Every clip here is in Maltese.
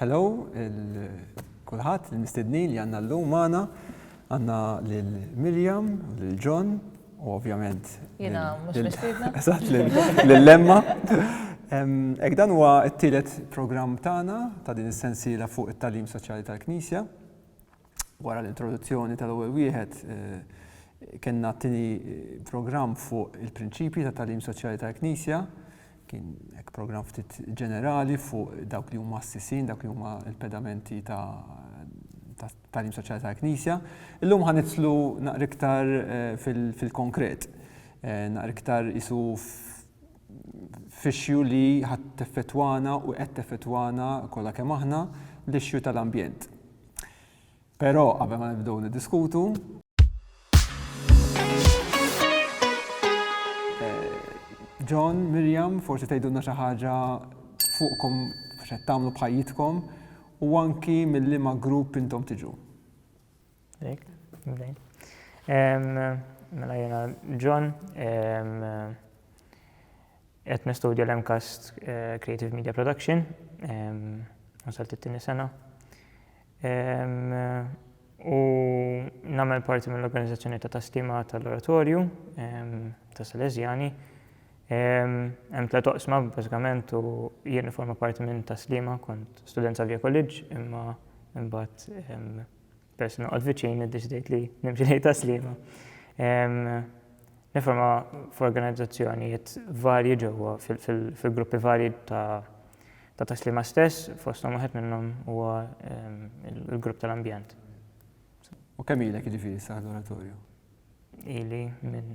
Hello il kulħadd il-mistednin li għandna llum magħna. Għandna lil Miriam, lil John u ovvjament. Jiena mhux mistiedna. Eżatt lil Lemma. Ek dan huwa t-tielet programm tagħna ta' din is-sensiela fuq it-tagħlim soċjali tal-Knisja. wara l-introduzzjoni tal-ewwel wieħed, kellna t-tieni programm fuq il-prinċipji ta' tagħlim soċjali tal-Knisja, kien hekk programm ftit ġenerali fuq dawk li huma s-sisin, dawk li huma l-pedamenti ta' tagħlim soċjali tal-Knisja. Illum ħa nitlu naqra iktar fil-konkret, naqra iktar isu f'ixju li ħadd teffettwana u qed teffettwana kollha kemm aħna, l-ixju tal-ambjent. Però qabel ma nibdew niddiskutu, John, Miriam, forsi tgħidulna xi ħaġa fuqkom x'qed tagħmlu bħajjitkom u anki mill-liema grupp intom tiġu. Mela jiena John, Qed nistudja l-MCAST Creative Media Production, wasalt it-tieni sena, u nagħmel parti mill-organizzazzjoni ta' Taslima tal-Oratorju ta' Salesjani. Hemm tliet oqsma bażikament u jien nifforma parti minn Taslima, kont student sa' Via College imma imbagħad peress noqgħod viċin iddeċidejt li nimxi lejn ta' Sliema. Niforma f'organizzazzjonijiet varji ġewwa fil-gruppi varji ta' ta' Sliema stess, fosthom wieħed minnhom huwa l-grupp tal-ambjent. U kemm ilek jiġifieri sa l-oratorju? Ili minn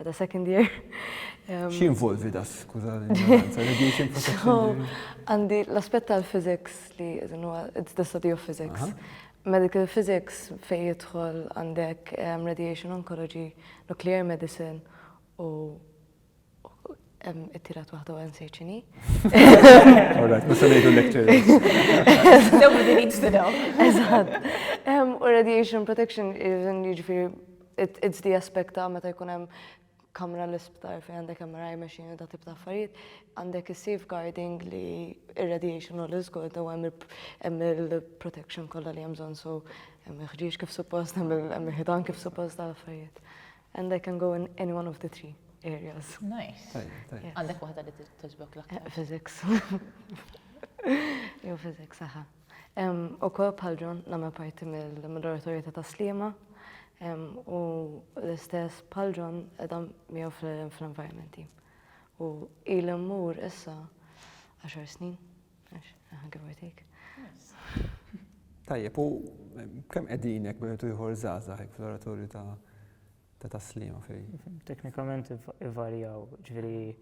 At a second year. X'jinvolvi da, skuża l-ignoranza, radiation protection? Għandi l-aspett tal-physics li it's the study of physics. Medical physics fejn jidħol għandek radiation oncology, nuclear medicine u It-tirat waħda għan sejċini. Alright, ma sanajdu lectures. Nobody needs to know. Eżat. U radiation protection, ġifiri, it's the aspect ta' meta jkun hemm kamra l-isptar fejn għandek MRI machine da tip ta' affarijiet, għandek is-safeguarding li ir-radiation u l-iżgod u hemm il-protection kollha li hemm bżonn so hemm il-ħġieġ kif suppost, hemm il-ħidan kif suppost ta' affarijiet. And I can go in any one of the three areas. Nice. Għandek waħda li t-tġbok l-aktar. Eh, physics. Jo, physics, aha. U kol bħal ġon namel parti mill-moderatorja ta' taslima u l-istess bħal ġon edam miegħu fl-environment team. U il-mur issa 10 snin. Tajjeb, u kemm qegħdin hekk bejn ieħor żgħażagħ hekk fl-oratorju ta' ta' taslima fej? Teknikament ivarjaw, ġifieri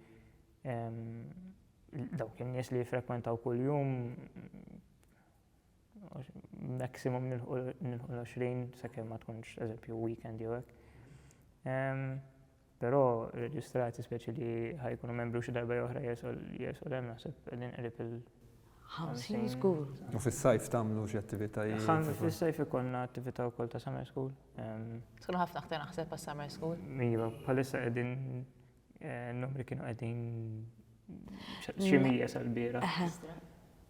dawk in-nies li jiffrekwentaw kuljum maximum nilħu l-20 sakemm ma tkunx eżempju weekend jew hekk. Però reġistrati speċi li ħa jkunu membru xi darba jew oħra jesol jesol hemm naħseb qegħdin qrib il- 50 żgur. U fis-sajf tagħmlu xi attivitajiet? Ħan fis-sajf ikollna attività wkoll ta' summer school. Tkun ħafna aktar naħseb għas summer school. Iva, bħalissa qegħdin numri kienu qegħdin xi mija sal-bieraħ.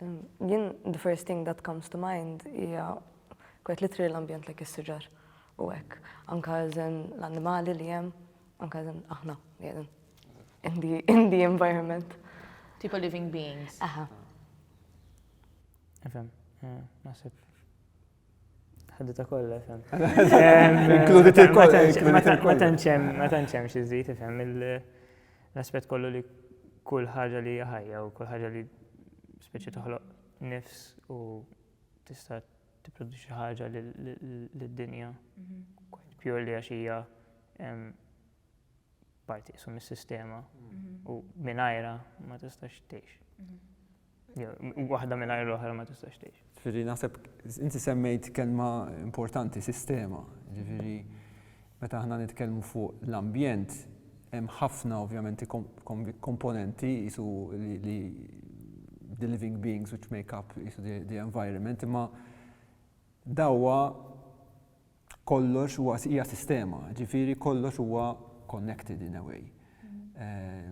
Jien the first thing that comes to mind hija kwet li trir l-ambjent lek is-siġar u hekk. Anka eżen l-annimali li hemm, anka eżen aħna li qegħdin in the, in the environment. Tipo living beings. Aha. Nifhem, eh, naħseb. Ħaddita kollha, fem. Inkludi ta' kollha. Ma tanċem, ma tanċem xi żid, fem, l-aspett kollu li kull ħaġa li ħajja u kull ħaġa li speċi toħloq nifs u tista' tipproduċi ħaġa lid-dinja. Mhm. Pure li għax hija parti sum is-sistema mhm. u minajra ma tistax tgħix. Mhm. Waħda mingħajr l-oħra ma tistax tgħix. Ġifieri naħseb inti semmejt kelma importanti sistema. Ġifieri meta aħna nitkellmu fuq l-ambjent hemm ħafna ovvjament komponenti jisu li the living beings which make up jisu the environment imma dawwa kollox huwa hija sistema, ġifieri kollox huwa connected in a way.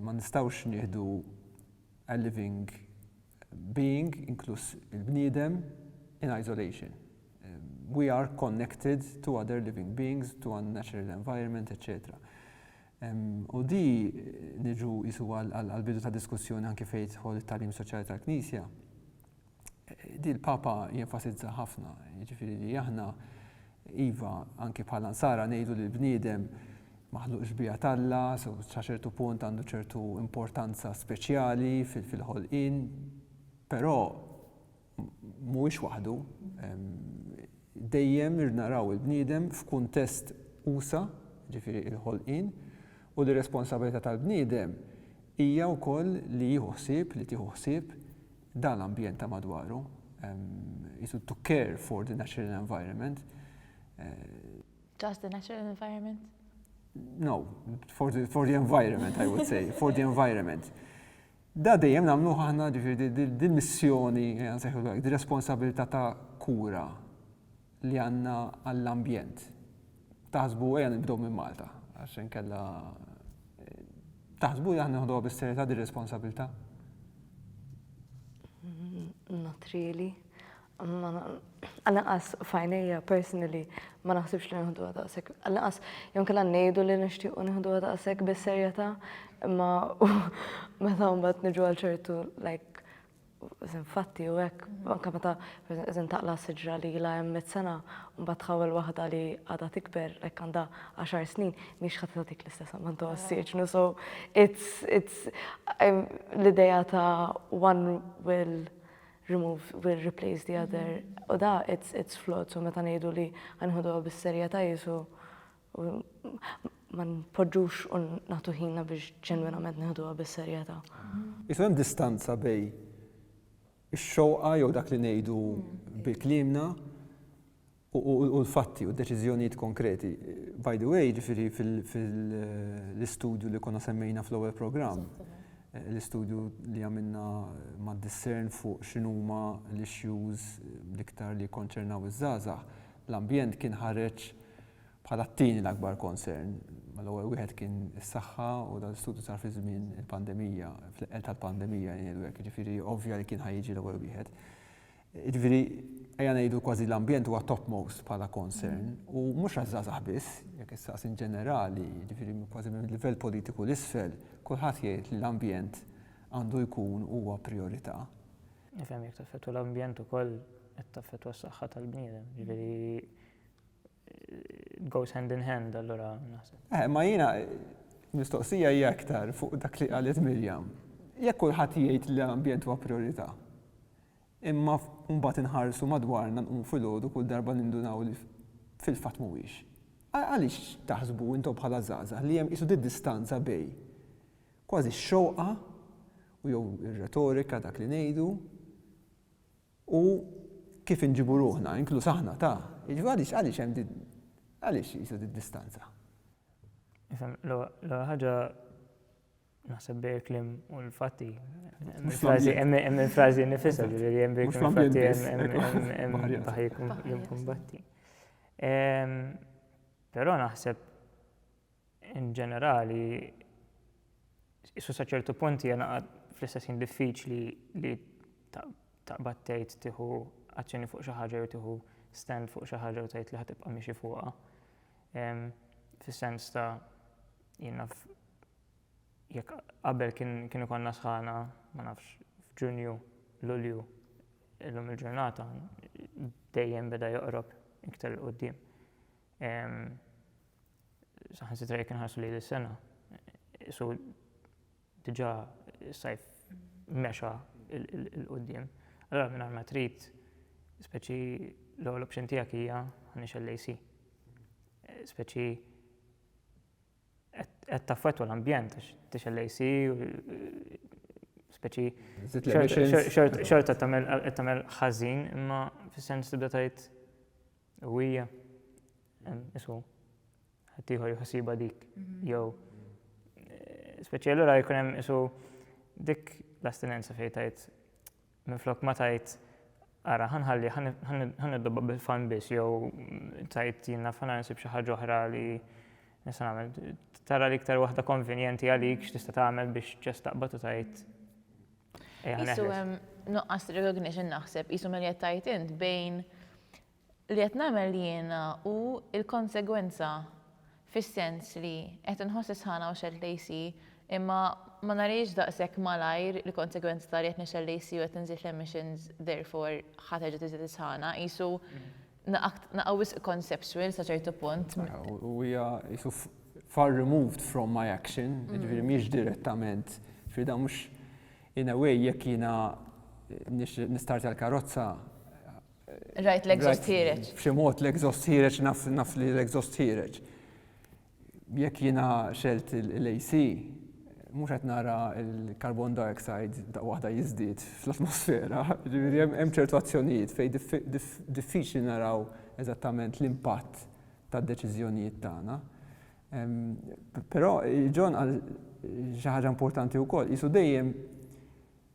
Ma nistgħux nieħdu a living being, inkluż il-bniedem, in isolation. We are connected to other living beings, to our natural environment, etc. U di niġu jisu għal-bidu ta' diskussjoni anki fejt ħol it-talim soċjali tal-Knisja, Din il-Papa jenfasizza ħafna, jiġifieri li aħna, iva, anke bħala Nsara ngħidu li l-bniedem maħluq xbieha t'Alla, so sa ċertu punt għandu ċertu importanza speċjali fil-ħolqien, però mhuwiex waħdu. Dejjem naraw il-bniedem f'kuntest usa', jiġifieri il-ħolqien, u li r-responsabbiltà tal-bniedem hija wkoll li jieħu ħsieb, li tieħu ħsieb, dan l-ambjent ta' madwaru, qisu to care for the natural environment. Just the natural environment? No, for the, for the environment, I would say, for the environment. Da dejjem namlu ħahna ġifiri dil-missjoni, għanseħu l-għak, dil-responsabilità ta' kura li għandna għall-ambjent. Taħsbu ejja nibdew minn Malta għax inkella taħsbu li aħna nieħduha bis-serjetà din ir-responsabilità? Not really. Għal-inqas f'għajnejja personally ma naħsibx li nieħduha daqshekk. Għal-inqas jew kellha ngħidu li nixtiequ nieħduha daqshekk bis-serjetà imma meta mbagħad niġu għal ċertu like Infatti u hekk, anke meta eżem taqla' siġra li ilha hemm mitt sena, mbagħad tħawwel waħda li għadha tikber, like għandha għaxar snin, mhix ħa tagħtik l-istess ammont ta' ossiġnu. So it's it's l-idea ta' one will remove will replace the other u da it's it's flawed so meta ngħidu li ħa nieħduha bis-serjetà qisu u ma npoġġux u nagħtu ħinna biex ġenwinament nieħduha bis-serjetà. Qisu hemm distanza bejn ix-xewqa jew dak li ngħidu bi kliemna u l-fatti u d-deċiżjonijiet konkreti. By the way, ġifieri fil-istudju li konna semmejna fl-ewwel programm, l-istudju li għamilna ma' Discern fuq x'inhuma l-issues l-iktar li jikkonċernaw iż-żgħażagħ, l-ambjent kien ħareġ bħala t-tieni l-akbar konsern, mal-ewwel wieħed kien is-saħħa u dan l-istudju sar fi żmien il-pandemija, fl-eqqel tal-pandemija ngħidlu hekk, jiġifieri ovvja li kien ħa jiġi l-ewwel wieħed. Jiġifieri ejja ngħidu kważi l-ambjent huwa topmost bħala konsern u mhux għaż-żgħażagħ biss, jekk issaqs in ġenerali, jiġifieri kważi minn livell politiku 'l isfel, kulħadd jgħid li l-ambjent għandu jkun huwa prijorità. Nifhem jekk taffettwa l-ambjent ukoll qed taffettwa s-saħħa tal-bniedem, jiġifieri goes hand in hand allura naħseb. Eh, ma jiena mistoqsija hija aktar fuq dak li qalet Mirjam. Jekk kulħadd jgħid li l-ambjent huwa priorità. Imma mbagħad inħarsu madwarna nqum filgħodu kull darba nindunaw li fil-fatt mhuwiex. Għaliex taħsbu intom bħala żgħażagħ li hemm qisu distanza bej kważi x-xewqa u jew ir-retorika dak li ngħidu U kif inġibu ruħna, inkluż aħna, ta', jiġifieri għaliex, għaliex hemm din, għaliex qisha din id-distanza? Nifhem, l-ewwel ħaġa naħseb bejn il-kliem u l-fatti. Hemm il-frażi nifisha, ġifieri hemm bejn il-fatti hemm baħar jimkumbatti. Però naħseb In ġenerali, qisu sa ċertu punt hija naqa' fl-istess ħin diffiċli li taqbad tgħid tieħu azzjoni fuq xi ħaġa jew tieħu stand fuq xi ħaġa u tgħid li ħa tibqa' miexi fuqha. Fis-sens ta' jien naf jekk qabel kien ikollna sħana, ma nafx, f'Ġunju, Lulju, illum il-ġurnata dejjem beda joqrob iktar il-qudiem. saħansitra jekk inħarsu li l-sena, su diġa s-sajf mexa il-qoddim. Allora minn ma trid, speċi l-għol option tijak hija għanix l-AC. Speċi qed taffetwa l-ambjent, tix l-AC, speċi xort qed tagħmel ħażin, imma fis-sens tibda tgħid U hija, isu, ħaddieħor jħossibha dik, mhm. jew eh, speċi allura jkun hemm isu dik l-astinenza fejn tajt minn flok ma tajt ara ħanħalli ħanidobba bil-fan biss jew tajt jiena fana nsib xi ħaġa oħra li nista' nagħmel tara li iktar waħda konvenjenti għalik x'tista' tagħmel biex ġest taqbad u tajt Isu hemm nuqqas recognition naħseb, isu mel qed tajt int bejn li qed nagħmel jiena u l-konsegwenza fis-sens li qed inħoss is-sħana u xelt lejsi imma ma narix daqshekk malajr il-konsegwenza ta' li qed nixel lejsi u qed inżid l-emissions therefore ħa terġa' tiżdied is-sħana. Isu Naqgħa wisq conceptual sa ċertu punt. U hija qisu far removed from my action, jiġifieri mhijiex direttament, jiġifieri dan mhux in a way jekk jiena nistartja l-karozza. Rajt l-exhaust ħiereġ. B'xi mod l-exhaust ħiereġ naf li l-exhaust ħiereġ. Jekk jiena xelt l-AC, mhux qed nara l-carbon dioxide daqqa waħda jiżdied fl-atmosfera, jiġifieri hemm ċertu azzjonijiet fejn diffiċli naraw eżattament l-impatt tad-deċiżjonijiet tagħna. Però John qal xi ħaġa importanti wkoll, qisu dejjem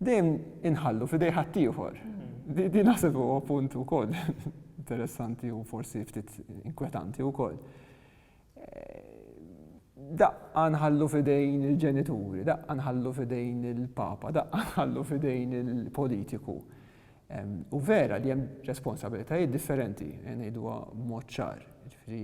Dejjem inħallu f'idej ħaddieħor. Din naħseb huwa punt ukoll interessanti u forsi ftit inkwetanti wkoll. Daqqa nħallu f'idejn il-ġenituri, daqqa nħallu f'idejn il-papa, daqqa nħallu f'idejn il-politiku. U vera li hemm responsabilitajiet differenti, ngħiduha b'mod ċar. Jiġifieri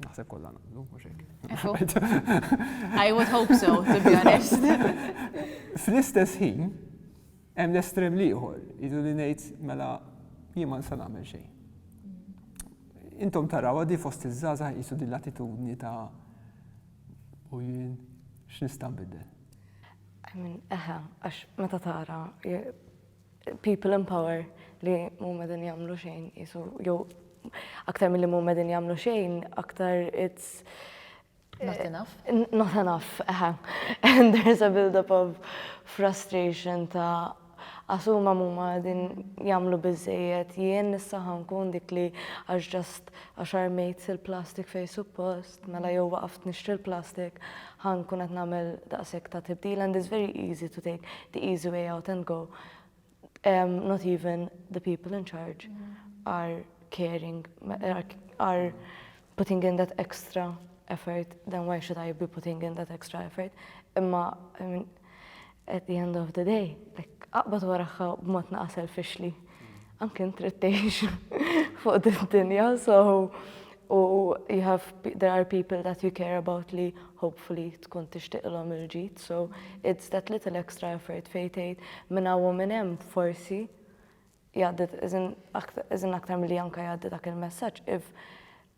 Naħseb kollha naqblu, mhux hekk. I would hope so, to be honest. Fl-istess ħin, hemm l-estrem liħor, jidu li ngħid mela jien ma nista' nagħmel xejn. Intom taraw għadi fost iż-żgħażagħ jisu din l-attitudni ta' u jien x'nista' nbidel. Eħe, għax meta tara people in power li mhuma din jagħmlu xejn isu jew aktar milli mhuma din jagħmlu xejn, aktar it's Not eh, enough. Not enough, eħe. And there's a build-up of frustration ta' asuma mumma din jamlu bizzejiet, jien nissaħan kun dik li għax ġast għaxar mejt il-plastik fej suppost. mela jew waqaft nixtri l-plastik ħa nkun qed nagħmel daqshekk ta' tibdil and it's very easy to take the easy way out and go. Um, not even the people in charge are caring, are, are putting in that extra effort, then why should I be putting in that extra effort? Imma, I mean, At the end of the day, like, aqbad waraħħa b'mod naqa' selfishly. Anke int trid tgħix fuq d-dinja, so u you have there are people that you care about li hopefully tkun tixtiqlhom il-ġid, so it's that little extra effort fejn tgħid minn hawn u minn hemm forsi jgħaddi iżin aktar milli anke jgħaddi dak il-messaġġ if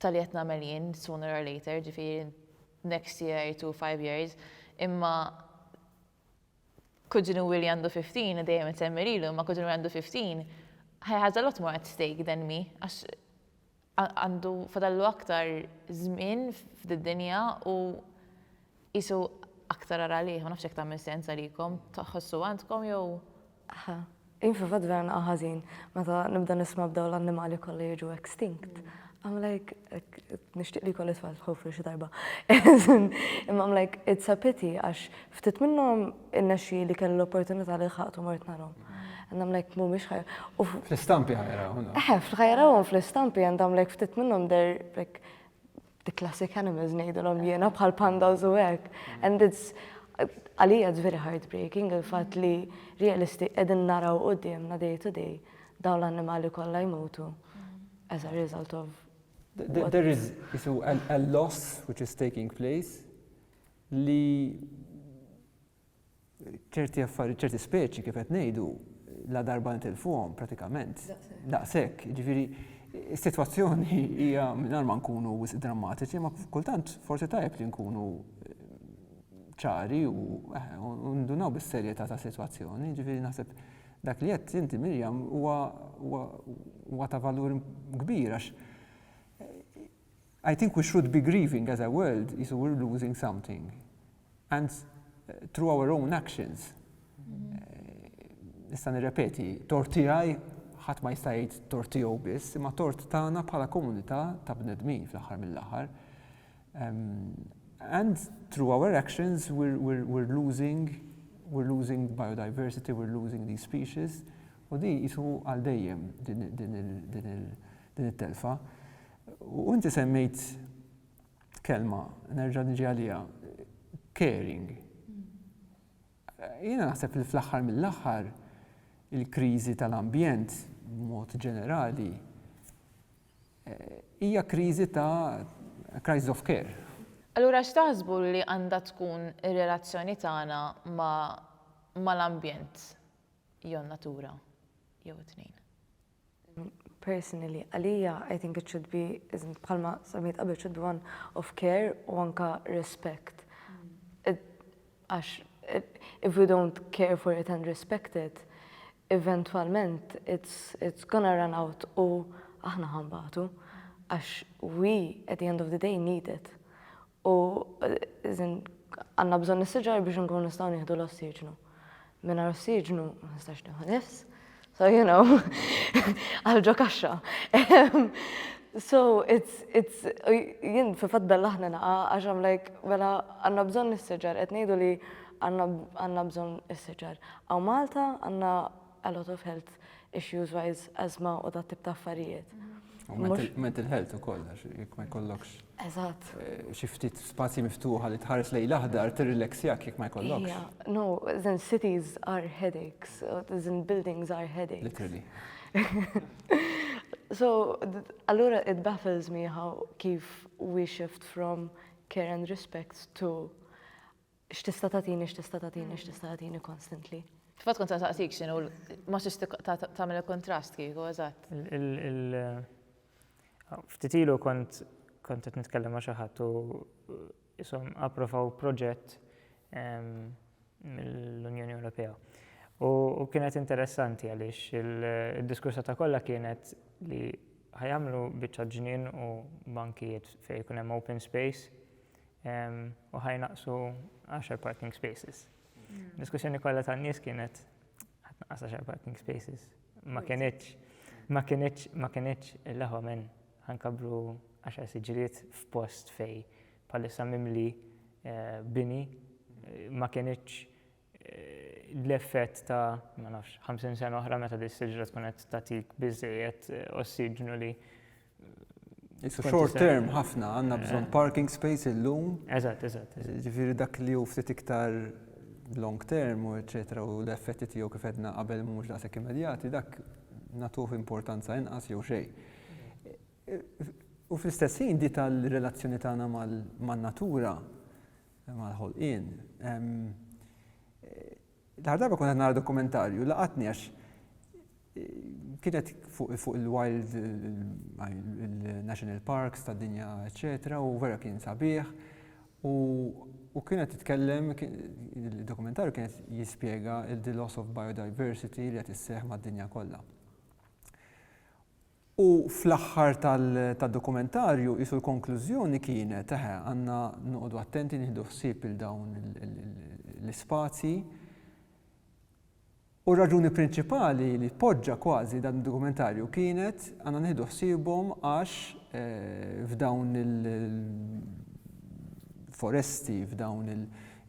ta' li qed nagħmel jien sooner or later, ġifieri next year to five years, imma kuġin u li għandu 15, dejjem insemmi lilu, imma kuġin u għandu 15, he has a lot more at stake than me, għax għandu fadallu aktar żmien f'did-dinja u Qisu aktar ara għalih, ma nafx jekk tagħmel sens għalikom, tħossu għandkom jew? Aha. Jien fil-fatt vera naqa' ħażin meta nibda nisma' b'dawn l-annimali kollha jiġu extinct. I'm like, nixtieq li jkolli tfal ħofri xi darba. Imma I'm like, it's a pity għax ftit minnhom innexxi li kelli l-opportunità li lħaqtu mort narhom. And I'm like, mhumiex ħajja. Fl-istampi ħajrawhom. Eħe, ħajrawhom fl-istampi and I'm like, ftit minnhom they're like The classic animals ngħidulhom jiena bħal pandas u hekk. And it's għalija it's very heartbreaking il-fatt li realisti qegħdin naraw qudiemna day to day dawn l-annimali kollha jmutu as a result of There is so a, a loss which is taking place li ċerti affarijiet, ċerti speċi kif qed ngħidu, la darba nitilfuhom pratikament. Daqshekk, jiġifieri is-sitwazzjoni hija mingħajr ma nkunu wisq drammatiċi, ma kultant forsi tajjeb li nkunu eh, ċari eh, u ndunaw bis-serjetà ta' sitwazzjoni, jiġifieri naħseb dak li qed inti Mirjam huwa ta' valur kbir għax eh, I think we should be grieving as a world qisu we're losing something and through our own actions. Nista' nirrepeti, tort tiegħi ħadd ma jista' jgħid tort tiegħu biss, imma tort tagħna bħala komunità ta' bnedmin fl-aħħar mill-aħħar. And through our actions we're, we're, we're losing we're losing biodiversity, we're losing these species, u di jisu għal dejjem din il-telfa. U inti semmejt kelma, nerġa' niġi għaliha, caring. Jiena naħseb li fl-aħħar mill-aħħar il-kriżi tal-ambjent b'mod ġenerali eh, hija kriżi ta' crisis of care. Allura x'taħsbu li għandha tkun ir-relazzjoni tagħna mal-ambjent jew natura jew it-tnejn? Personally, għalija I think it should be isn't bħalma semmejt qabel should be one of care u anka respect. Għax if we don't care for it and respect it, eventwalment it's, it's gonna run out u aħna ħambatu għax we at the end of the day need it. U għandna bżonn is-siġar biex inkunu nistgħu nieħdu l-ossiġnu. Mingħajr ossiġnu ma nistax nieħu nifs. So you know, għal ġo kaxxa. So it's, it's, jien fi fatt bella ħna naqa għax I'm like, mela għandna bżonn is-siġar, qed ngħidu li għandna bżonn is-siġar. Hawn Malta għandna a lot of health issues wise asthma u dat tip ta' affarijiet. U mental health ukoll għax jekk ma jkollokx. Eżatt. Eh, xi ftit spazji miftuħa li tħares lejn l-aħdar tirrileksjak jekk ma jkollokx. No, then cities are headaches, then buildings are headaches. Literally. so, allura it baffles me how kif we shift from care and respect to X'tista' tagħtini, x'tista' tagħtini, x'tista' tagħtini constantly. Fil-fatt kont se nsaqsik x'inhu ma tridx tagħmel il-kuntrast kieku, eżatt. Ftit ilu kont kont qed nitkellem ma' xi ħadd u qishom approvaw proġett mill-Unjoni Ewropea. U kienet interessanti għaliex id-diskursha ta' kollha kienet li ħa jagħmlu biċċa ġnien u bankijiet fejn ikun hemm open space u ħaj naqsu 10 parking spaces. Hmm. Diskussjoni kollha tan-nies kienet ħadd naqas 10 parking spaces. Ma kienieċ, ma kienieċ, ma kienieċ il-laħwa minn ħankabru 10 siġriet f'post fej palissa mimli eh, bini eh, ma kienieċ l-effett ta' ma nafx 50 sena oħra meta di siġra tkun qed tagħtik biżejjed ossiġnu li It's short term ħafna għandna bżonn parking space illum. Eżatt, eżatt. Ġifieri dak li hu ftit iktar long term u eċetera u l-effetti tiegħu kif edna qabel mhux daqshekk immedjati dak nagħtuh importanza inqas jew xejn. U fl-istess ħin di tal-relazzjoni tagħna man-natura mal-ħolqien. L-aħħar darba kont nara dokumentarju laqatni għax kienet fuq il-wild, il-national parks ta' dinja, eccetera, u vera kien sabiħ. U kienet titkellem, il-dokumentarju kienet jispjega il-the loss of biodiversity li qed isseħħ mad-dinja kollha. U fl-aħħar tad-dokumentarju qisu l-konklużjoni kienet, eħe, għandna noqogħdu attenti nieħdu ħsieb il dawn l-ispazji. U r-raġuni prinċipali li poġġa kważi dan id-dokumentarju kienet għandna nieħdu ħsiebhom għax f'dawn il-foresti, f'dawn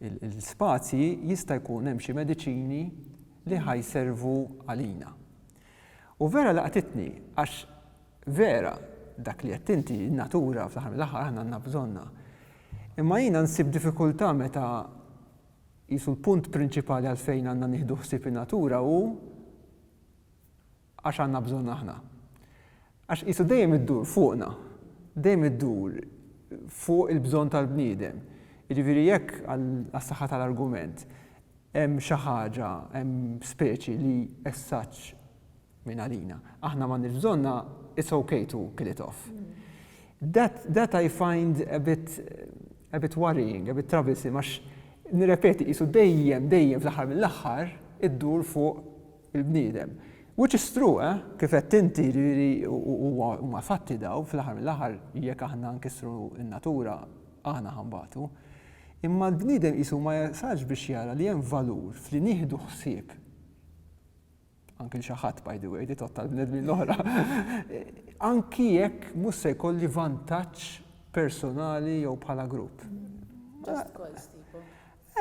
il-spazji jista' jkun hemm xi mediċini li ħa jservu għalina. U vera laqtitni għax vera dak li għedt inti, in-natura fl-aħħar mill-aħħar aħna għandna bżonnha. Imma jiena nsib diffikultà meta qisu l-punt prinċipali għalfejn għandna nieħdu ħsieb in-natura hu għax għandna bżonn aħna. Għax qisu dejjem iddur fuqna, dejjem iddur fuq il-bżonn tal-bniedem. Jiġifieri jekk, għas-saħħa tal-argument, hemm xi ħaġa, hemm speċi li as such minn għalina aħna m'għandniex bżonnha, it's ok to kill it off. That, that I find a bit, a bit worrying, a bit troublesome għax, nirrepeti, qisu dejjem, dejjem fl-aħħar mill-aħħar iddur fuq il-bniedem. Which is true, eh? Kif għedt inti, jiġifieri huma fatti dawn, fl-aħħar mill-aħħar jekk aħna nkissru n-natura aħna ħa nbatu. Imma l-bniedem qisu ma jasalx biex jara li hemm valur f'li nieħdu ħsieb anki xi ħadd by the way, di totta l-bnedmin l-oħra. Anki jekk mhux se jkolli vantaġġ personali jew bħala grupp.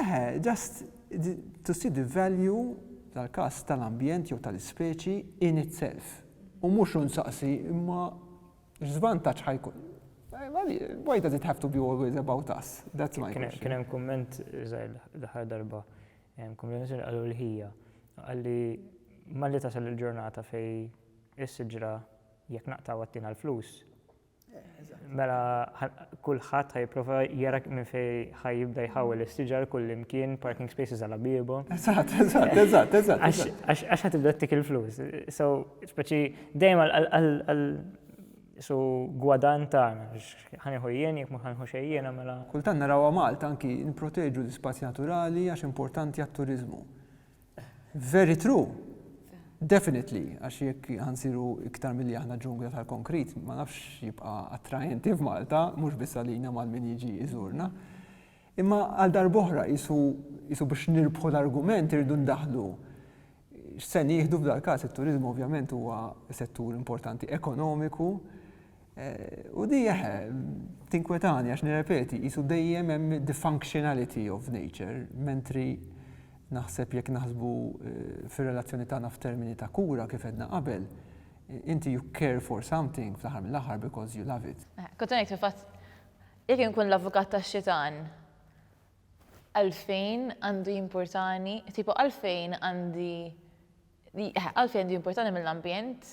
Eħe, just to see the value, tal-każ, tal-ambjent jew tal-ispeċi in itself. U mhux u nsaqsi imma x'żvantaġġ ħa jkun. Why does it have to be always about us? That's my question. Kien hemm kumment l-aħħar darba, kombinazzjoni qalu l-ħija. Qalli malli tasal il-ġurnata fej is-siġra jekk naqtaw għattina l-flus, Mela kulħadd ħajprova jara minn fej ħajibda jħawel is-siġar kull imkien parking spaces għal bibu. Eżatt, eżatt, eżatt, eżatt. Għax ħatibda tik il-flus. So, speċi dejjem għal su gwadan tagħna ħanieħu jien jekk mhux ħanħu xejjien mela. Kultant narawha Malta anki nipproteġu l-ispazji naturali għax importanti għat-turiżmu. Very true. Definitely, għax jekk ħansiru iktar milli aħna ġungla tal-konkrit, ma nafx jibqa' attraenti f'Malta, mhux biss għalina mal min jiġi iżurna. Imma għal darboħra jisu biex nirbħu l-argument irridu ndaħlu x'se nieħdu f'dal-każ it-turizmu ovvjament huwa settur importanti ekonomiku U di, eħe, tinkwetani għax nirrepeti, qisu dejjem hemm the functionality of nature, mentri naħseb jekk naħsbu fir-relazzjoni tagħna f'termini ta' kura kif għedna qabel, inti you care for something fl-aħħar mill-aħħar because you love it. Kont ngħid fil-fatt jekk inkun l-avukat tax-xitan għalfejn għandu jimpurtani, tipo għalfejn għandi, eħe, għalfejn għandu jimpurtani mill-ambjent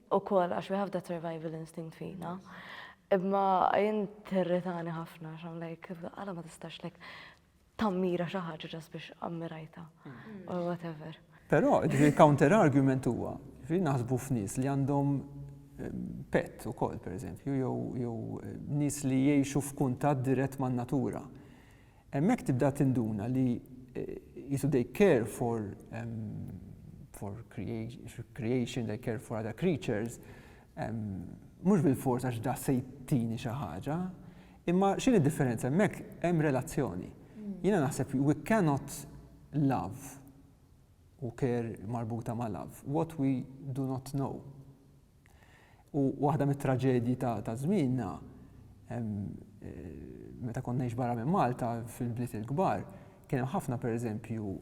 Ukoll għax we have that survival instinct fina. Imma jien territani ħafna għax I'm like, għala ma tistax like tammira xi ħaġa ġas biex ammirajta mm. or whatever. Però ġifieri counter argument huwa, ġifieri naħsbu f'nies li għandhom pet u kol, per eżempju, jew nis li jiexu f'kuntat dirett man natura. Hemmhekk tibda tinduna li qisu they care for for creation, they care for other creatures, mhux bil-fors għax da se jtini xi ħaġa, imma x'in id-differenza hemmhekk hemm relazzjoni. Mm. Jiena naħseb we cannot love u care marbuta ma' love what we do not know. U waħda mit-traġedji ta' ta' żmienna hemm meta kont ngħix barra minn Malta fil-bliet il-kbar kien hemm ħafna pereżempju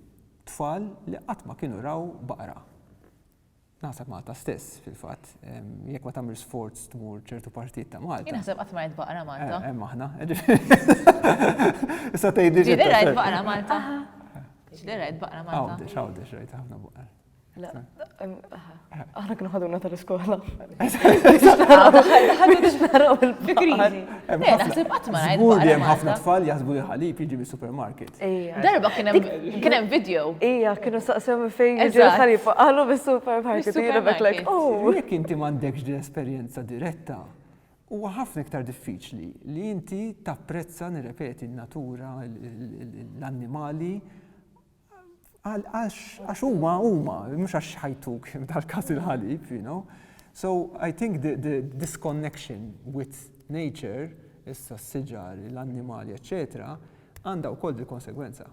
tfal li qatt ma kienu raw baqra. Naħseb Malta stess fil-fatt jekk ma tagħmilx sforz tmur ċertu partijiet ta' Malta. Jien naħseb qatt ma rajt baqra Malta. Hemm aħna. Issa tgħidli. Ġieli rajt baqra Malta. Ġieli rajt baqra Malta. Għawdex, għawdex rajt ħafna baqar. Aħna kienu ħaduna tal-iskola. Ħadu biex naraw il-fikrizi. Naħseb għatma għajt. Għur li jem ħafna tfal jaħsbu li ħalib jiġi bi supermarket. Darba kienem video. Ija, kienu saqsem fejn jiġi ħalib għallu bi supermarket. Ija, beklek. Oh. Jek inti mandekx din esperienza diretta, huwa ħafna iktar diffiċli li inti tapprezza nirrepeti n-natura, l-annimali, Għax huma huma, mhux għax ħajtuk f'dal-każ il-ħalib, you know. So I think the, the disconnection with nature, issa s-siġar, l-annimali, eccetera, għandha wkoll dil-konsegwenza.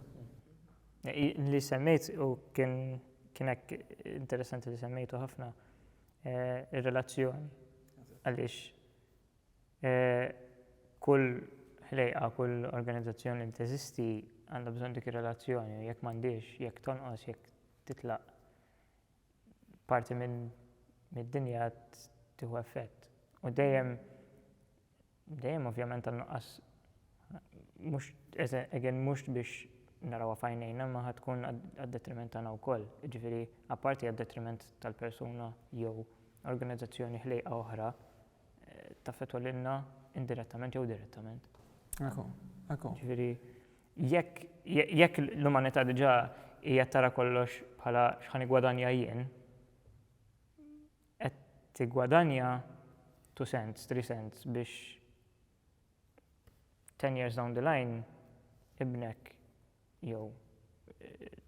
Li semmejt u kien kienek interessanti li semmejtu ħafna eh, ir-relazzjoni. Għaliex Kull ħlejqa, kull organizzazzjoni li teżisti għandha bżonn dik ir-relazzjoni u jekk m'għandhiex, jekk tonqos, jekk titlaq, parti mid-dinja tieħu effett. U dejjem, dejjem ovvjament tan-nuqqas, mhux, again, mhux biex narawha f'għajnejna imma ħa tkun għad-detriment tagħna wkoll. Jiġifieri, apparti għad-detriment tal-persuna jew organizzazzjoni ħlejqa oħra, taffettwa lilna indirettament jew direttament. Ekku, ekku. Ġifieri jekk jekk l-umanità diġà hija tara kollox bħala x'ħan igwadanja jien, qed tigwadanja two cents, three cents biex ten years down the line ibnek jew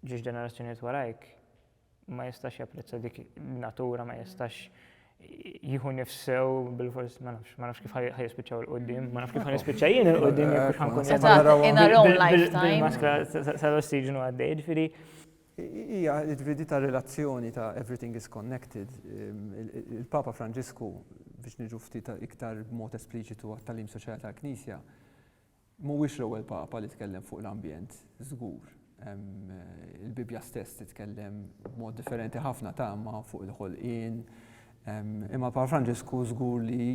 ġiex ġenerazzjonijiet warajk ma jistax japprezza dik natura, ma jistax jihu nifsew bil-fors, ma nafx, ma nafx kif ħajispiċaw il-qoddim, ma nafx kif ħajispiċa jien il-qoddim jekk ħankun. In our own lifetime. Maskla sal-ossiġnu għaddej, ġifiri. Hija l-fidi tar-relazzjoni ta' Everything is Connected. Il-Papa Franġisku, biex niġu ftit iktar b'mod espliċitu għat-tagħlim soċjali tal-Knisja, mhuwiex l-ewwel Papa li tkellem fuq l-ambjent, żgur. Il-Bibbja stess titkellem b'mod differenti ħafna ta' imma fuq il-ħolqien. Imma l-Papa Franġisku żgur li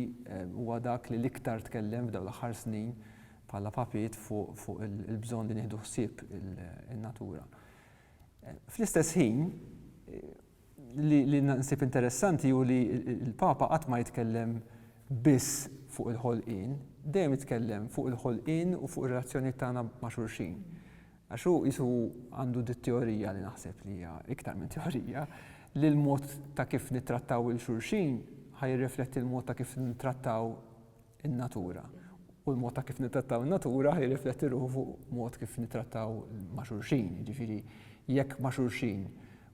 huwa dak li l-iktar tkellem f'dawn l-aħħar snin bħala papiet fuq il-bżonn li nieħdu ħsieb in-natura. Fl-istess ħin, li nsib interessanti hu li l-Papa qatt ma jitkellem biss fuq il-ħolqien, dejjem jitkellem fuq il-ħolqien u fuq ir-relazzjonijiet tagħna ma' xulxin. Għax hu qisu għandu dit-teorija li naħseb li hija iktar minn teorija li l-mod ta' kif nittrattaw lil xulxin ħa jirrifletti l-mod ta' kif nittrattaw in-natura u l-mod ta' kif nittrattaw in-natura jirrifletti ruħu fuq mod kif nittrattaw ma' xulxin. Jiġifieri jekk ma' xulxin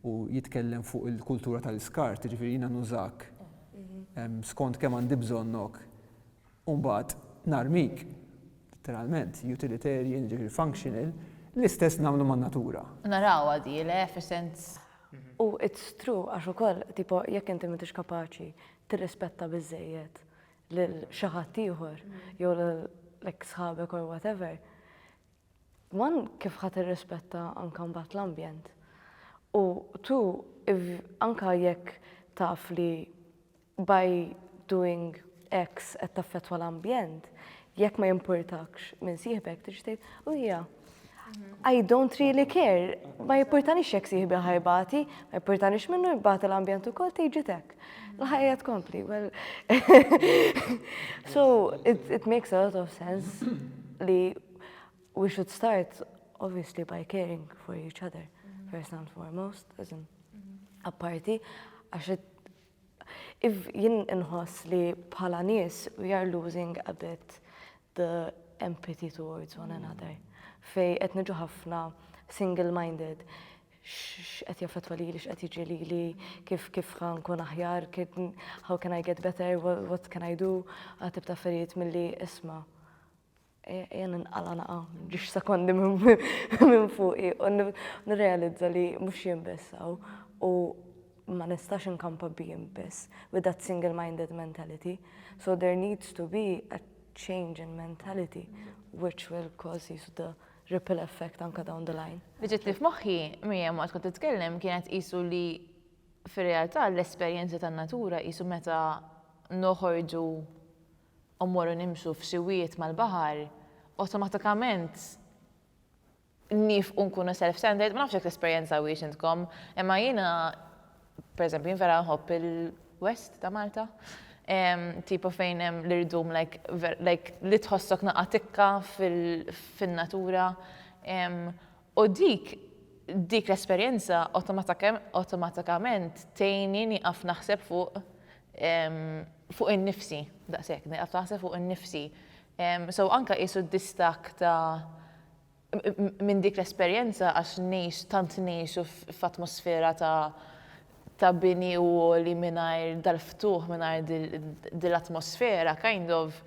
u jitkellem fuq il-kultura tal-iskart, jiġifieri jiena nużak ehm, skont kemm għandi bżonnok u mbagħad narmik literalment utilitarian, jiġifieri functional, l-istess nagħmlu man-natura. Naraw għadi, le, fi sens. Mhm. U it's true, għax ukoll, tipo, jekk inti m'intix kapaċi tirrispetta biżejjed lil xi ħadd ieħor jew lil sħabek or whatever, man kif ħadd irrispetta anke mbagħad l-ambjent. U tu anke jekk taf li by doing X qed taffettwa l-ambjent, jekk ma jimpurtakx minn sieħbek tixtieq u hija. I don't really care, ma jipportanix jek siħbi ħajbati, ma jipportanix minnu jibbati l-ambjent u kol tiġi tek. L-ħajja tkompli, well. so, it, it makes a lot of sense li we should start obviously by caring for each other, first and foremost, as in, apparti, għax Iva, jien inħoss li bħala nies we are losing a bit the empathy towards one another. Fej qed niġu ħafna single-minded x'qed jaffettwa lili, x'qed jiġri lili, kif kif ħankun aħjar, how can I get better, what can I do, għatib ta' affarijiet milli isma' Ejja ninqala' naqa' ġiex sekondi minn fuqi u nirrealizza li mhux jien biss hawn u ma nistax inkampa b'jien biss with that single minded mentality. So there needs to be a change in mentality which will cause qisu the ripple effect anke down the line. Li ġietli f'moħħi Miriam waqt kont titkellem kienet qisu li fir-realtà l-esperjenzi tan-natura qisu meta noħorġu u mmorru nimxu f'siwiet mal-baħar, awtomatikament niefqu nkunu self-centered, ma nafx jekk tesperjenzawhiex intkom, imma jiena pereżempju jien vera nħobb il-West ta' Malta, tipo fejn hemm l-irdum like like li tħossok naqa' tikka fin-natura, U dik dik l-esperjenza awtomatikament tgħinni nieqaf naħseb fuq fuq innifsi, daqshekk, nieqaf naħseb fuq innifsi. So anke qiesu d-distakk ta' minn dik l-esperjenza għax ngħix tant ngħixu f'atmosfera ta' ta' bini u għoli mingħajr dal-ftuħ, mingħajr dil-atmosfera, kind of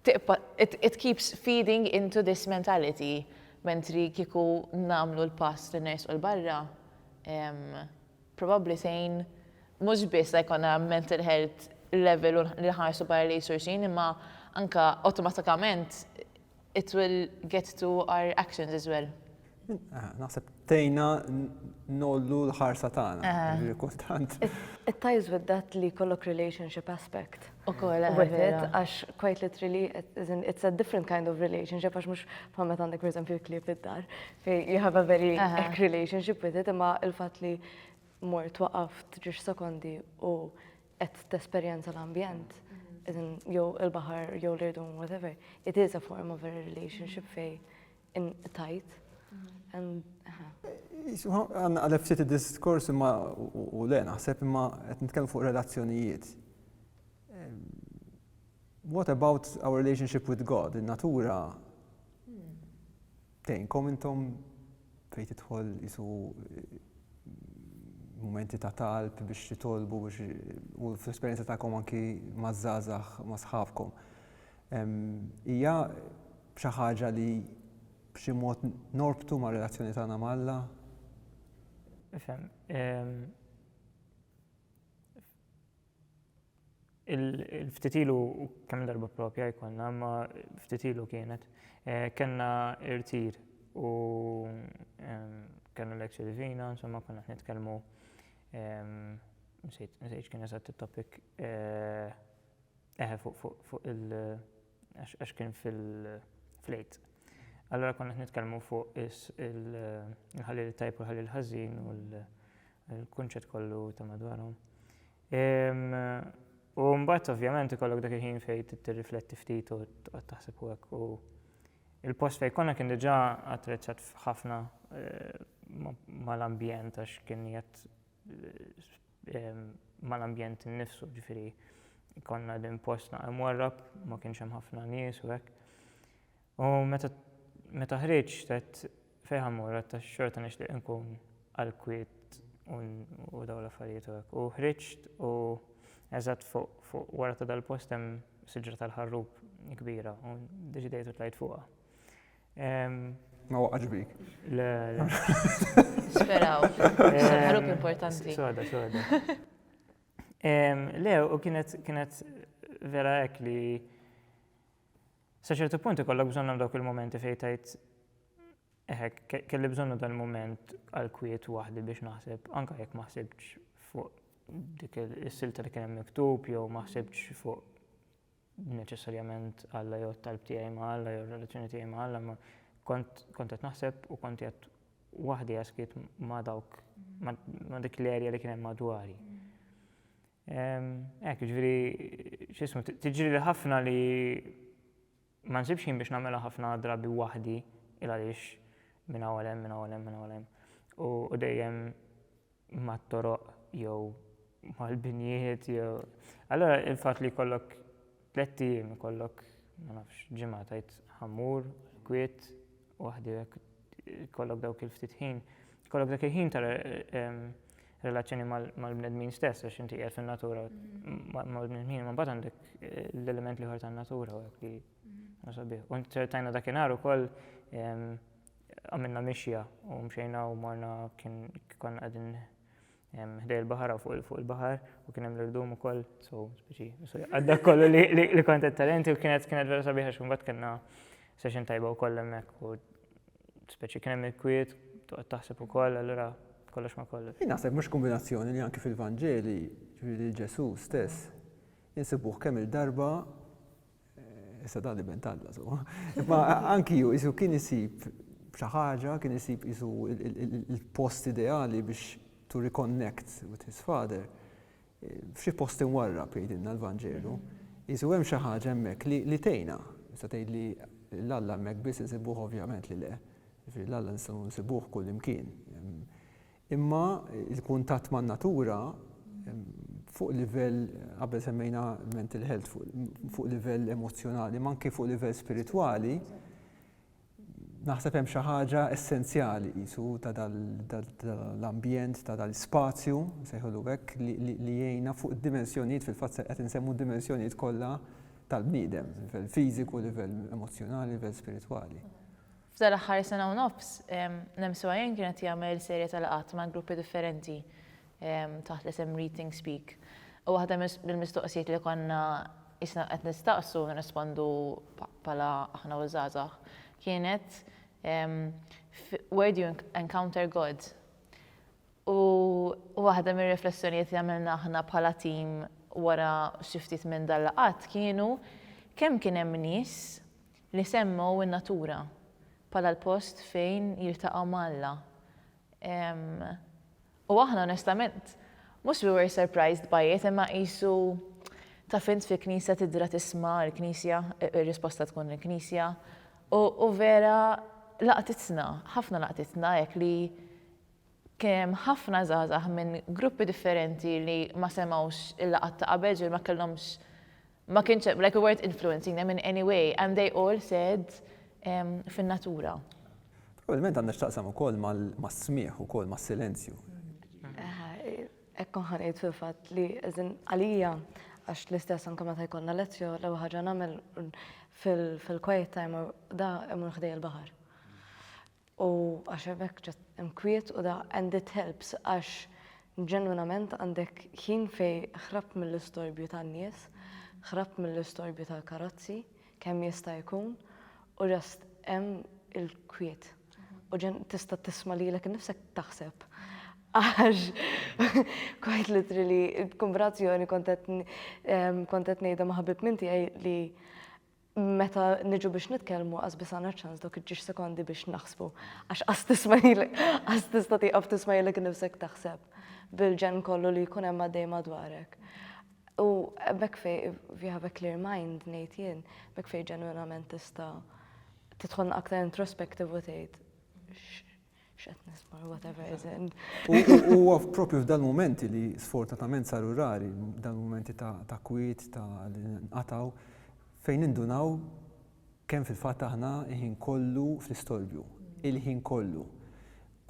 tibqa' it keeps feeding into this mentality mentri kieku nagħmlu l-pass li nersqu 'l barra probabbli tgħin mhux biss la jkollna mental health level u li nħarsu barra lejn xulxin imma anke awtomatikament it will get to our actions as well. Naħseb tejna nollu l-ħarsa tagħna. Kultant. It ties with that li kollok relationship aspect. U kolla. Għax quite literally, it's a different kind of relationship, għax mux bħammet għandek per esempio klib id-dar. You have a very eck relationship with it, imma il-fat li mor twaqaft ġiġ sekondi u qed t-esperienza l-ambjent, jew il-bahar, jew l-irdum, whatever. It is a form of a relationship fej Inqtajt. Għanna għalef ftit id-diskors imma u le naħseb imma qed nitkellmu fuq relazzjonijiet. What about our relationship with God? In-natura tejnkom intom fejn tidħol isu momenti ta' talb biex titolbu biex u fl-esperjenza tagħkom anki maż-żgħażagħ ma' sħabkom. Hija b'xi ħaġa li b'xi mod norbtu mar-relazzjoni tagħna ma' Alla? Ifhem. Il-ftit ilu kemm darba propja jkollna, ma ftit ilu kienet, eh, kellna irtir u kellna l-ekxi divina, insomma konna qed nitkellmu nsejt kien eżatt it-topic eh, eh fuq il- għax kien fil-flejt. Allura konna qed nitkellmu fuq il-ħalil it-tajb u l-ħalil ħażin u l-kunċett kollu ta' madwarhom. U mbagħad ovvjament ikollok dak il-ħin fejn tirrifletti ftit u tqgħod taħseb u hekk. U il-post fejn konna kien diġà attrezzat ħafna mal-ambjent għax kien qiegħed mal-ambjent innifsu, ġifieri konna din post naqra mwarrab, ma kienx hemm ħafna nies u hekk. U meta meta ħriġt għedt fejn ħammur għedt għax xorta nixtieq inkun għall-kwiet u dawn l-affarijiet u hekk. U ħriġt u eżatt fuq wara ta' dal-post hemm siġra tal-ħarrub kbira u ddeċidejt u tlajt fuqha. Ma waqax bik. Le, le. Speraw. Ħarub importanti. Soda, soda. Le, u kienet kienet vera hekk li sa ċertu punt ikollok bżonnhom dawk il-momenti fejn tajt eħek kelli bżonnu dal-moment għal kwiet waħdi biex naħseb anka jekk ma ħsibx fuq dik is-silta li kien hemm miktub jew ma ħsibx fuq neċessarjament Alla jew it-talb tiegħi ma' Alla jew ir-relazzjoni tiegħi ma' Alla, imma kont kont qed naħseb u kont qiegħed waħdi għaskiet ma' dawk ma' dik l-erja li kien hemm madwari. Hekk, ġifieri x'ismu tiġri li ħafna li ma nsibx ħin biex nagħmilha ħafna drabi waħdi il għaliex minn hawn hemm, minn hawn hemm, minn hawn hemm. U dejjem mat-toroq jew mal-binjiet jew. Allura il-fatt li jkollok tlett ijiem, ikollok ma nafx ġimgħa tgħid ħa mmur kwiet waħdi hekk ikollok dawk il-ftit ħin, ikollok dak il-ħin ta' relazzjoni mal-bnedmin stess għax inti qiegħed fin-natura mal-bnedmin, ma mbagħad għandek eh, l-element li ħor tan-natura u hekk li sabiħ. U nċertajna dakinhar ukoll Għamilna mixja u mxejna u morna kien konna qegħdin ħdej il-baħar u fuq il-baħar u kien hemm l-irdum ukoll, so speċi, għadda kollu li kont talenti u kienet kienet vera sabiħa x'kumbat kellna session tajba wkoll hemmhekk u speċi kien hemm il-kwiet toqgħod taħseb ukoll allura kollox ma kollox. Jien naħseb mhux kombinazzjoni li anki fil-Vanġeli, ġifieri Ġesu stess, insibuh kemm il-darba Issa dan l-iben talla, so. Ma anki ju, jisu kien jisib xi ħaġa, kien jisib jisu il-post ideali biex to reconnect with his father. F'xi post inwarra jgħidilna l-Vanġelu. Jisu hemm xi ħaġa hemmhekk li tejna. Issa tgħid li l-Alla hemmhekk biss insibuh ovvjament li le. Ġifieri l-Alla nistgħu nsibuh kull imkien. Imma l-kuntatt man-natura fuq livell, qabel semmejna mental health, fuq livell emozzjonali, ma anke fuq livell spiritwali, naħseb hemm xi ħaġa essenzjali qisu ta' dal-ambjent, ta' dal-ispazju, nsejħulu hekk, li jgħinna fuq id-dimensjonijiet fil-fatt qed insemmu d-dimensjonijiet kollha tal-bniedem, livell fiżiku, livell emozzjonali, livell spiritwali. F'dan l-aħħar sena u nofs, l-MCYN kien qed jagħmel serje ta' laqgħat ma' gruppi differenti taħt l-isem Read Think Speak. U waħda mill-mistoqsijiet li konna qisna qed nistaqsu u nirrispondu bħala aħna u ż-żgħażagħ kienet Where do you encounter God? U waħda mir-riflessjonijiet li għamilna aħna bħala tim wara xi ftit minn dan laqgħat kienu kemm kien hemm nies li semmew in-natura bħala l-post fejn jiltaqgħu ma' Alla. U aħna onestament, mhux we were surprised by it, imma qisu taf int fi knisja tidra tisma' l-knisja, ir-risposta tkun il-knisja, u vera laqtitna, ħafna laqtitna hekk li kien hemm ħafna żgħażagħ minn gruppi differenti li ma semgħux il-laqgħat ta' qabel, ġifieri ma kellhomx Ma kienx hemm, like we weren't influencing them in any way and they all said fin-natura. Probabilment għandha x'taqsam ukoll mas-smigħ ukoll mas-silenzju. Hekk kont ħanejt fil-fatt li għalija għax l-istess anke meta jkollna lezzjo l-ewwel ħaġa nagħmel fil-quiet time da imur ħdej il-baħar. u għax hemmhekk ġa mkwiet u da and it helps għax ġenwinament għandek ħin fejn ħrabt mill-istorbju tan-nies, ħrabt mill-istorbju tal-karozzi kemm jista' jkun u just hemm il-kwiet u tista' tisma' lilek innifsek taħseb għax quite literally il-kumbinazzjoni kont qed ngħidha ma' ħabib minn tiegħi li meta niġu biex nitkellmu qas biss għandna ċans dawk iġġiex sekondi biex naħsbu għax qas tismajlek qas tista' tieqaf tismajlek innifsek taħseb bil-ġenn kollu li jkun hemm għaddej madwarek. U hemmhekk fej if you have a clear mind ngħid jien, hemmhekk fej ġenwinament tista' tidħolna aktar introspective u tgħid X'qed nisma' whatever is in. U propju f'dan momenti li sfortunatament saru rari, dan momenti ta' kwiet, ta' li nqatgħu, fejn nindunaw kemm fil-fatt aħna ħin kollu fl-istorbju, il-ħin kollu.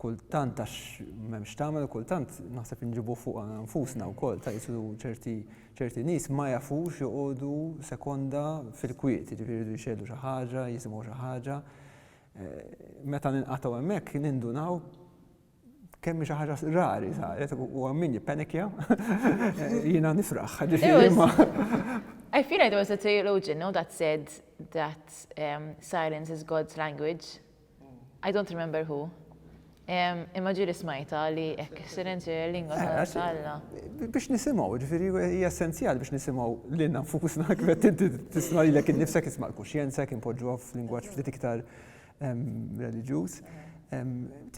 Kultant għax m'hemmx tagħmel, kultant naħseb inġibu fuqha nfusna wkoll ta' jisu ċerti nies ma jafux joqogħdu sekonda fil-kwiet, jiġifieri jridu jxegħlu xi ħaġa, jisimgħu xi ħaġa. Meta ninqatgħu hemmhekk nindunaw kemm xi ħaġa rari saret u min jippenikja jiena nifraħ. I feel like there was a theologian no, that said that um, silence is God's language. I don't remember who. Imma ġieli smajtha li hekk is-silenzju hija l-lingwa ta' eh, Alla. Biex nisimgħu, ġifieri hija essenzjali biex nisimgħu lil nafusna kif qed inti tisma' lilek innifsek isma' l-kuxjenza kien poġġuha f'lingwaġġ ftit iktar reliġjuż.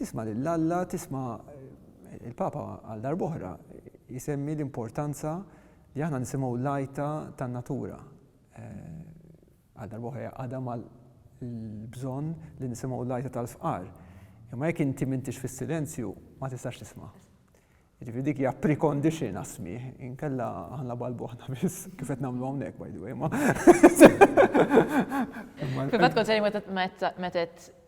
Tisma' lil Alla, tisma' il-Papa għal darb'oħra jisemmi l-importanza li aħna nisimgħu l-lajta tan-natura. Eh, Għal darba oħra jgħaqqadha mal-bżonn li nisimgħu l-għajta tal-fqar. Imma jekk inti m'intix fis-silenzju, ma tistax tisma'. Jiġifieri dik hija precondition għas-smigħ, inkella aħna balbuħna biss, kif qed nagħmlu hawnhekk by the way, imma. Fil-fatt kont se ngħid meta qed.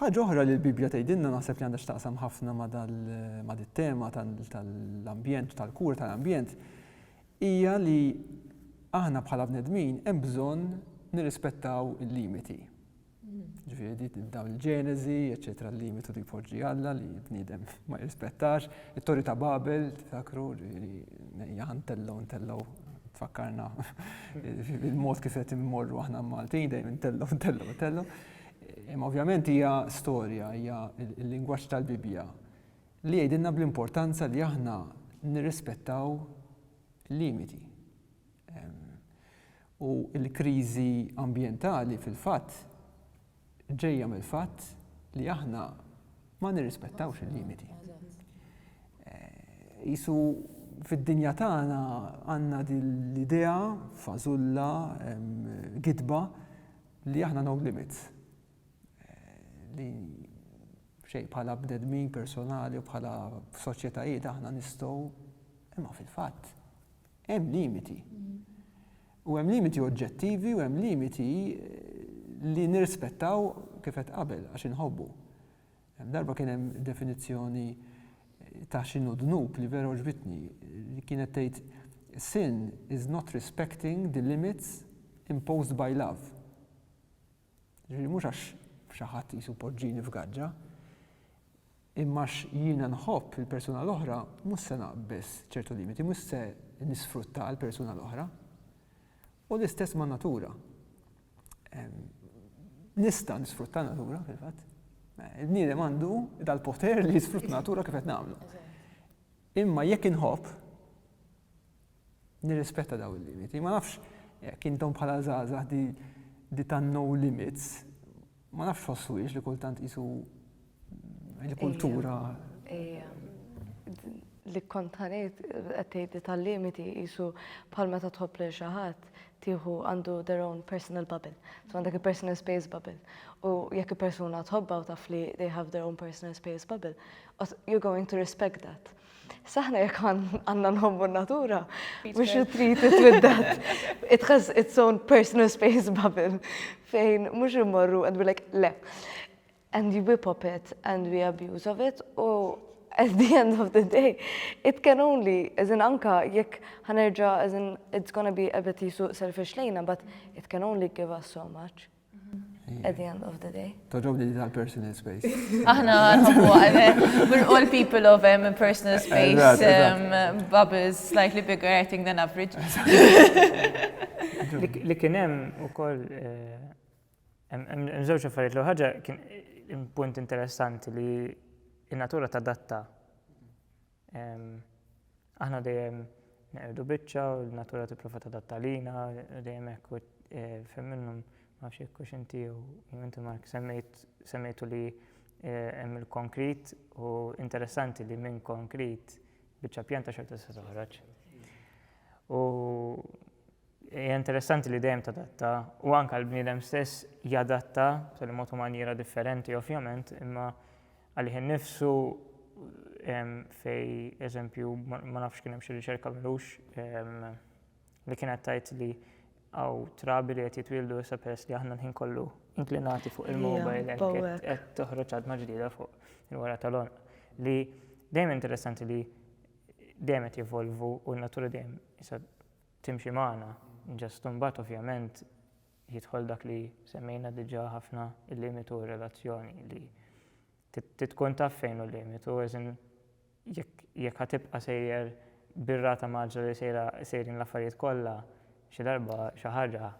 Ħaġa oħra li l-Bibbja tgħidilna naħseb li għandha x'taqsam ħafna ma' dit-tema tal-ambjent u tal-kura tal-ambjent hija li aħna bħala bnedmin hemm bżonn nirrispettaw il-limiti. Ġifieri dawn il-ġeneżi, eċetera, l-limitu li jpoġġi Alla li bniedem ma jirrispettax, it-Torri ta' Babel, tifakru li jaħan tellow tellow tfakkarna il-mod kif qed immorru aħna Maltin dejjem tellow tellow tellow. Imma ovvjament hija storja, hija l-lingwaġġ tal-Bibbja li jgħidilna bl-importanza li aħna nirrispettaw limiti. U l-kriżi ambjentali fil-fatt ġejja mill-fatt li aħna ma nirrispettawx il-limiti. Jisu eh, fid-dinja tagħna għandna l-idea fażulla gidba Li aħna no limits. Li xejn bħala bnedmin personali u bħala soċjetajiet aħna nistgħu imma fil-fatt hemm limiti. U hemm limiti oġġettivi u hemm limiti eh, li nirrispettaw kif qed qabel għax inħobbu. Hemm darba kien hemm definizzjoni ta' x'inhu dnub li vera għoġbitni, li kienet tgħid, Sin is not respecting the limits imposed by love. Jiġifieri mhux għax xi ħadd qisu poġġini f'gaġġa, imma għax jiena nħobb lill-persuna l-oħra mhux se naqbeż ċertu limiti, mhux se nisfrutta l-persuna l-oħra. U l-istess man-natura. nista' nisfrutta natura fil-fatt. Il-bniedem għandu dal-poter li jisfrutta natura kif qed nagħmlu. Imma jekk inħobb nirrispetta daw il-limiti, ma nafx jekk intom bħala żgħażagħ di tan no limits Ma nafx ħossuwiex li kultant qisu il-kultura. Li kontanejt qed tgħid li tal-limiti qisu bħal meta tħobb lil xi ħadd tieħu għandu their own personal bubble. So għandek il-personal space bubble. U jekk il-persuna tħobba u taf li they have their own personal space bubble, you're going to respect that. S'aħna jekk għandna nħobbu n-natura, mhux retreat is with that. It has its own personal space bubble fejn mhux immorru and we're like le. And we whip up it and we abuse of it u at the end of the day it can only, as in anka jekk ħanerġa' as in it's gonna be a bit jisu selfish lejna but it can only give us so much. At the end of the day. Toġobni li tal-personal space. Aħna nħobbu għalek. We're all people of um, personal space, um, bubbles slightly bigger, I think, than average. Li kien hemm ukoll eh, hemm żewġ affarijiet li ħaġa kien punt interessanti li in-natura ta' datta Aħna dejjem neqirdu biċċa u n-natura tipprova tadatta lina, dejjem hekk u fejn minnhom ma nafx jekk hux inti jew inti Mark semmejt semmejtu li hemm il-konkrit u interessanti li minn konkrit biċċa pjanta xorta tista' toħroġ. U Hija interessanti li dejjem tadatta u anke l-bniedem stess jadatta b'tali mod u manjiera differenti ovvjament, imma għalih innifsu fej eżempju ma nafx kien hemm xi riċerka mhux li kienet tgħid li għaw trabi li qed jitwieldu issa peress li aħna l-ħin kollu inklinati fuq il-mobile qed toħroġ għadma ġdida fuq il-wara tal-onq. Li dejjem interessanti li dejjem qed jevolvu u n-natura dejjem timxi magħna. Just imbagħad ovvjament jidħol dak li semmejna diġà ħafna il-limitu u r-relazzjoni li trid tkun taf fejn hu l-limitu as in jekk ħa tibqa' sejjer bir-rata maġġla li sejra sejrin l-affarijiet kollha xi darba xi ħaġa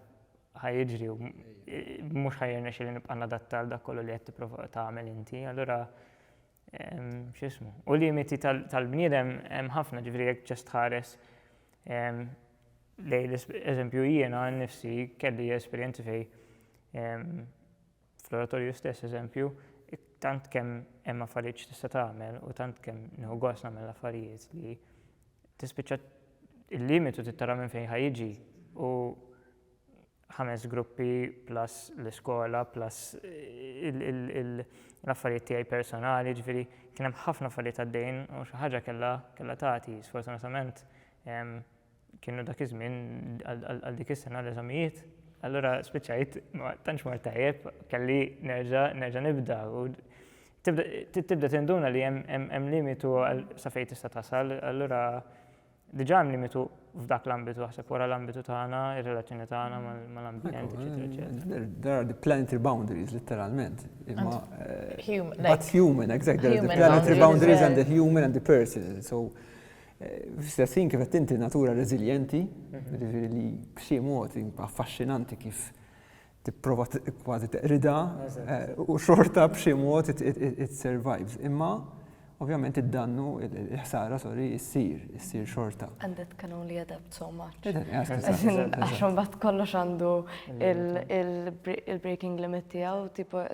ħa jiġri u mhux ħa jirnexxieli nibqa' nadatta għal dak kollu li qed tipprova tagħmel inti. Allura x'ismu, u limiti tal-bniedem hemm ħafna, ġifieri jekk ġest tħares lejn eżempju jiena nnifsi kelli esperjenzi fej fl-oratorju stess eżempju, tant kemm hemm affarijiet x'tista' tagħmel u tant kemm nieħu gost nagħmel l-affarijiet li tispiċċa il-limitu trid tara minn fejn ħa jiġi u ħames gruppi plus l-iskola plus l-affarijiet tiegħi personali, jiġifieri kien hemm ħafna affarijiet għaddejjin u xi ħaġa kellha kellha tagħti. Sfortunatament kienu dak iż-żmien għal dik is-sena l-eżamijiet, allura spiċċajt ma tantx mort tajjeb, kelli nerġa' nerġa' nibda u tibda tinduna li hemm hemm limitu sa fejn tista' tasal, allura Diġà hemm limitu f'dak l-ambitu, aħseb wara l-ambitu tagħna, ir-relazzjoni tagħna mal-ambjent, eċetera, eċetera. There are the planetary boundaries, literalment. Imma. Eh, human. But human, exactly. There are the planetary boundaries and the human and the person. So, eh, fl-istessin kif qed inti natura reżiljenti, mhm. li b'xi mod affaxxinanti kif tipprova kważi teqrida u xorta b'xi mod it survives. Imma ovvjament id-dannu, il-ħsara, sorry, issir, issir xorta. And that can only add up so much. Għaxum bat kollox għandu il-breaking limit tijaw, tipo,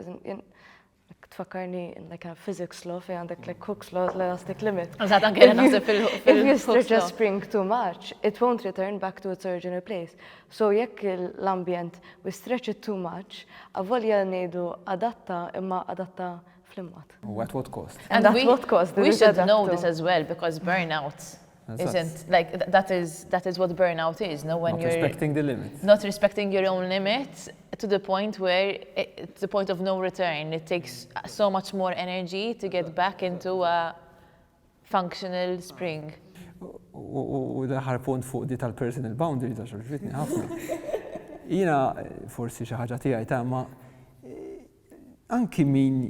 Ek tfakkarni in like physics law fej għandek like Hooke's law, l-elastic limit. Eżatt, anke jena naħseb fil-Hooke's law. If you stretch a spring too much, it won't return back to its original place. So jekk l-ambjent we stretch it too much, avolja ngħidu adatta imma adatta fl-imgħad. U at what cost? And at what cost? We should know this as well because burnout isn't like that is that is what burnout is no when not you're respecting the limits not respecting your own limits to the point where it, to the point of no return it takes so much more energy to get back into a functional spring u daħar punt fuq di tal-personal boundary ta' xorġitni ħafna. Jina, forsi xi ħaġa tiegħi ta' ma Anki min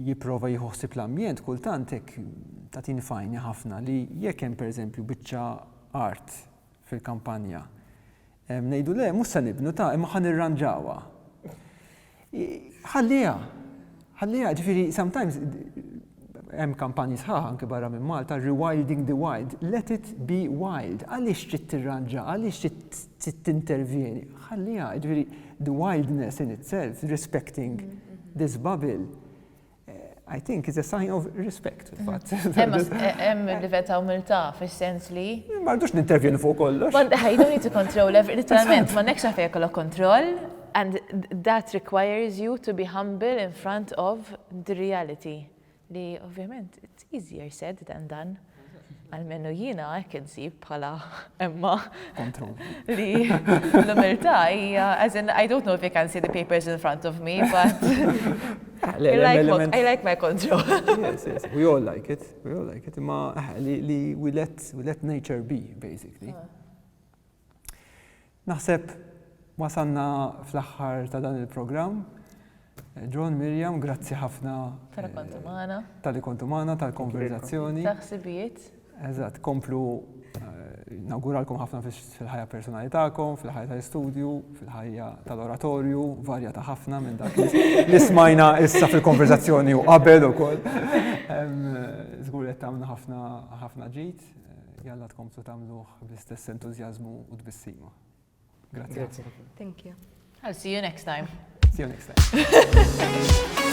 jipprova jieħu ħsieb l-ambjent kultant hekk tagħtini f'għajni ħafna li jekk hemm pereżempju biċċa art fil-kampanja, ngħidu le mhux se nibnu ta' imma ħa nirranġawha. Ħalliha, ħalliha, ġifieri sometimes hemm kampanji sħaħ anke barra minn Malta, rewilding the wild, let it be wild. Għaliex trid tirranġa, għaliex trid tintervjeni? Ħalliha, jiġifieri the wildness in itself, respecting mm-hmm. this bubble. Eh, I think it's a sign of respect, fatt. Hemm livell ta' umiltà fis-sens li. Ma rridux nintervjeni fuq kollox. I don't need to control every literalment, ma nekx għafejja kollok kontroll, And that requires you to be humble in front of the reality li ovvjament it's easier said than done. Għalmenu jiena hekk insib bħala emma. Kontroll. Li l-umiltà hija as in I don't know if you can see the papers in front of me but I like, I like my control. yes, yes. We all like it. We all like it. Ma li we let, we let nature be basically. Ah. Naħseb wasalna fl-aħħar ta' dan il-programm. John, Miriam, grazzi ħafna. Tal-li kontu magħna. Tal-li kontu magħna, tal-konverzazzjoni. Taħsibijiet. Eżatt, komplu nawguralkom ħafna fil-ħajja personali tagħkom, fil-ħajja tal-istudju, fil-ħajja tal-oratorju, varja ta' ħafna minn dak li smajna issa fil-konverzazzjoni u qabel ukoll. Żgur qed tagħmlu ħafna ħafna ġid. jalla tkomplu tagħmluh bl-istess entużjażmu u tbissima. Grazzi. Grazzi. Thank you. I'll see you next time. See you next time.